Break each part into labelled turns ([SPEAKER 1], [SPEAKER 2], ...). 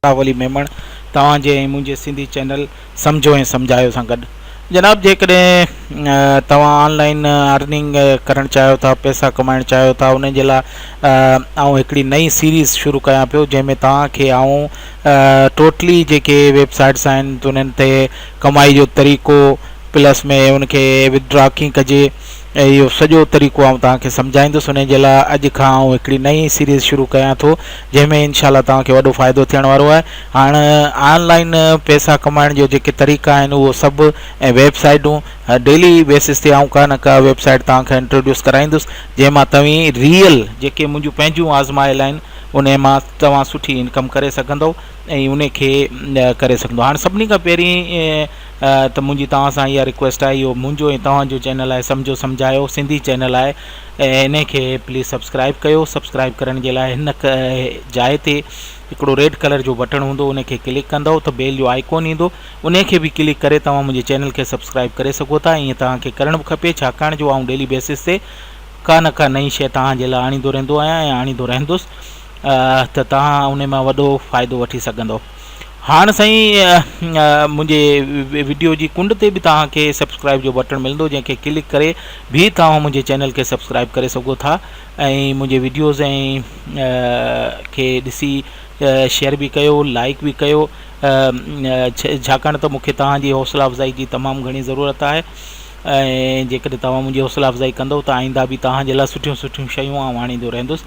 [SPEAKER 1] جناب علي ميمڻ توهان جي ۽ منهنجي سنڌي چينل سمجهو ۽ سمجهايو سان گڏ جناب جيڪڏهن توهان آن لائن ارننگ ڪرڻ چاهيو ٿا پئسا ڪمائڻ چاهيو ٿا ان جي لاء آئون هڪڙي نئي سيريز شروع ڪيان پيو جنهن ۾ توهان کي آئون ٽوٽلي جيڪي ويب سائيٽس آهن انهن تي ڪمائي جو طريقو پلس ۾ ان کي وٿ ڊرا ڪيئن ڪجي ۽ اهو سڄو طريقو آئون توهان کي سمجهائيندس انهي جي لاء اڄ کان آئون هڪڙي نئين سيريز شروع ڪيان ٿو جنهن ۾ انشاء الله توهان کي وڏو فائدو ٿيڻ وارو آهي هاڻ آن لائين پئسا ڪمائڻ جو جيڪي طريقا آهن اهو سڀ ۽ ويب سائيٽون ڊيلي بيسز تي آئون ڪا نه ڪا ويب سائيٽ توهان کي انٽروڊيوس ڪرائيندس جنهن مان توهين ريئل جيڪي منهنجون پنهنجون آزمايل آهن انهي مان توهان سٺي انڪم ڪري سگهندو ۽ انهي کي ڪري سگهندو هاڻ سڀني کان پهرين ته منهنجي توهان سان اها رڪويسٽ آهي اهو منهنجو ۽ توهان جو چينل آهي سمجهو سمجهايو سنڌي چينل آهي انهي کي پليز سبسڪرائيب ڪيو سبسڪرائيب ڪرڻ جي لاء هن جاء تي هڪڙو ريڊ ڪلر جو بٽڻ هوندو انهي کي ڪلڪ ڪندو ته بيل جو آئيڪون ايندو انهي کي به ڪلڪ ڪري توهان منهنجي چينل کي سبسڪرائيب ڪري سگهو ٿا ائين توهان کي ڪرڻ به کپي ڇاڪاڻ جو آئون ڊيلي بيسس تي ڪا نه ڪا نئين شيء توهان جي لاء آڻيندو رهندو آهيان ۽ آڻيندو رهندس ته توهان انهي مان وڏو فائدو وٺي سگهندو هاڻ سائين منهنجي وڊيو جي ڪنڊ تي به توهان کي سبسڪرائب جو بٽڻ ملندو جنهن کي ڪلڪ ڪري به توهان منهنجي چينل کي سبسڪرائب ڪري سگهو ٿا ۽ منهنجي وڊيوز ۽ کي ڏسي شيئر به ڪيو لائڪ به ڪيو ڇاڪاڻ ته مونکي توهان جي حوصلا افزائي جي تمام گهڻي ضرورت آهي ۽ جيڪڏهن توهان منهنجي حوصلا افزائي ڪندو ته آئنده به توهان جي لاء سٺيون سٺيون شيون آئون آڻيندو رهندس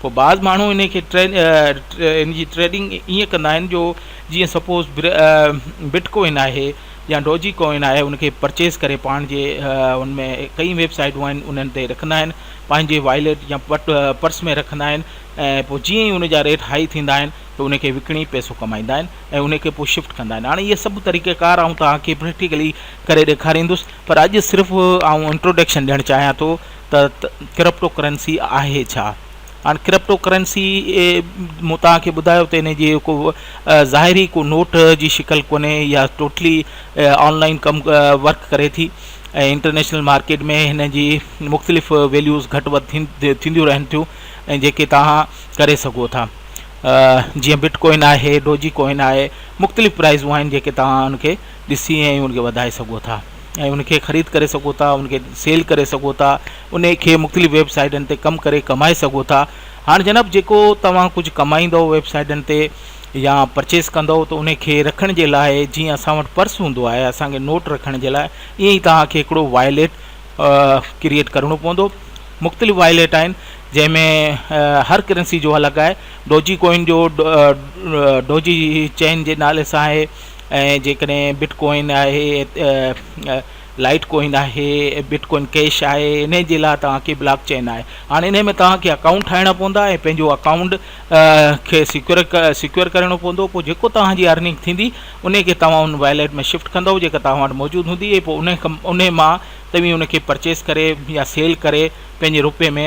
[SPEAKER 1] پوء بعض ماڻهو ان کي ان جي ٽريڊنگ ائين ڪندا آهن جو جيئن سپوز بٽ ڪوئن آهي يا ڊوجي ڪوئن آهي ان کي پرچيز ڪري پاڻ جي ان ۾ ڪئي ويب سائيٽون آهن انهن تي رکندا آهن پنهنجي وائليٽ يا پرس ۾ رکندا آهن ۽ پوء جيئن ئي ان جا ريٽ هائي ٿيندا آهن ته ان کي وڪڻي پئسو ڪمائيندا آهن ۽ ان کي پوء شفٽ ڪندا آهن هاڻي اهي سڀ طريقه ڪار آئون توهان کي پريڪٽيڪلي ڪري ڏيکاريندس پر اڄ صرف آئون انٽروڊڪشن ڏيڻ چاهيان ٿو ته ڪرپٽو ڪرنسي آهي ڇا؟ هاڻي ڪرپٽو ڪرنسي مون توهان کي ٻڌايو ته ان جي ڪو ظاهري ڪو نوٽ جي شڪل ڪونهي يا ٽوٽلي آن لائن ڪم ورڪ ڪري ٿي ۽ انٽرنيشنل مارڪيٽ ۾ هن جي مختلف ويليوز گهٽ وڌ ٿينديون رهن ٿيون ۽ جيڪي توهان ڪري سگهو ٿا جيئن بٽ ڪوائن آهي ڊوجي ڪوائن آهي مختلف پرائزون آهن جيڪي توهان ان کي ڏسي ۽ ان کي وڌائي سگهو ٿا ۽ ان کي خريد ڪري سگهو ٿا ان کي سيل ڪري سگهو ٿا ان کي مختلف ويب سائيٽن تي ڪم ڪري ڪمائي سگهو ٿا هاڻ جناب جيڪو توهان ڪجهه ڪمائيندو ويب سائيٽن تي يا پرچيز ڪندو ته ان کي رکڻ جي لاء جيئن اسان وٽ پرس هوندو آهي اسانکي نوٽ رکڻ جي لاء ائين ئي توهان کي هڪڙو وائليٽ ڪريئيٽ ڪرڻو پوندو مختلف وائليٽ آهن جنهن ۾ هر ڪرنسي جو الڳ آهي ڊوجي ڪوئن جو ڊوجي چين جي نالي سان آهي ۽ جيڪڏهن بٽ ڪوائن آهي لائٽ ڪوائن آهي بٽ ڪوائن ڪيش آهي ان جي لاء توهانکي بلاڪ چين آهي هاڻي ان ۾ توهانکي اڪائونٽ ٺاهڻا پوندا ۽ پنهنجو اڪائونٽ کي سيڪيور سيڪيور ڪرڻو پوندو پوء جيڪو توهانجي ارننگ ٿيندي ان کي توهان ان وائليٽ ۾ شفٽ ڪندو جيڪا توهان وٽ موجود هوندي پوء ان ان مان توهين ان کي پرچيز ڪري يا سيل ڪري پنهنجي روپي ۾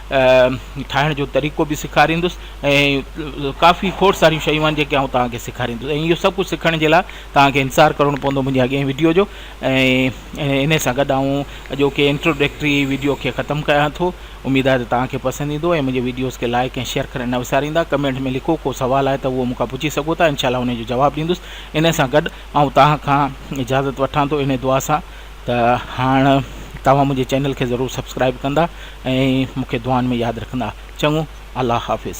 [SPEAKER 1] ٺاهڻ جو طريقو به سيکاريندس ۽ ڪافي کوڙ ساريون شيون آهن جيڪي آئون توهان کي سيکاريندس ۽ اهو سڀ ڪجهه سکڻ جي لاء توهان کي انتظار ڪرڻو پوندو منهنجي اڳئين ويڊيو جو ۽ ان سان گڏ آئون اڄوڪي انٽروڊڪٽري ويڊيو کي ختم ڪيان ٿو اميد آهي ته توهان کي پسند ايندو ۽ منهنجي ويڊيوز کي لائڪ ۽ شيئر ڪرڻ نه وساريندا ڪمينٽ ۾ لکو ڪو سوال آهي ته اهو مون کان پڇي سگهو ٿا انشاء الله ان جو جواب ڏيندس ان سان گڏ آئون توهان کان اجازت وٺان ٿو انهي دعا سان ته هاڻ توهان منهنجي چينل کي ضرور سبسڪرائب ڪندا ۽ مون کي دعائن ۾ ياد رکندا چڱو الله حافظ.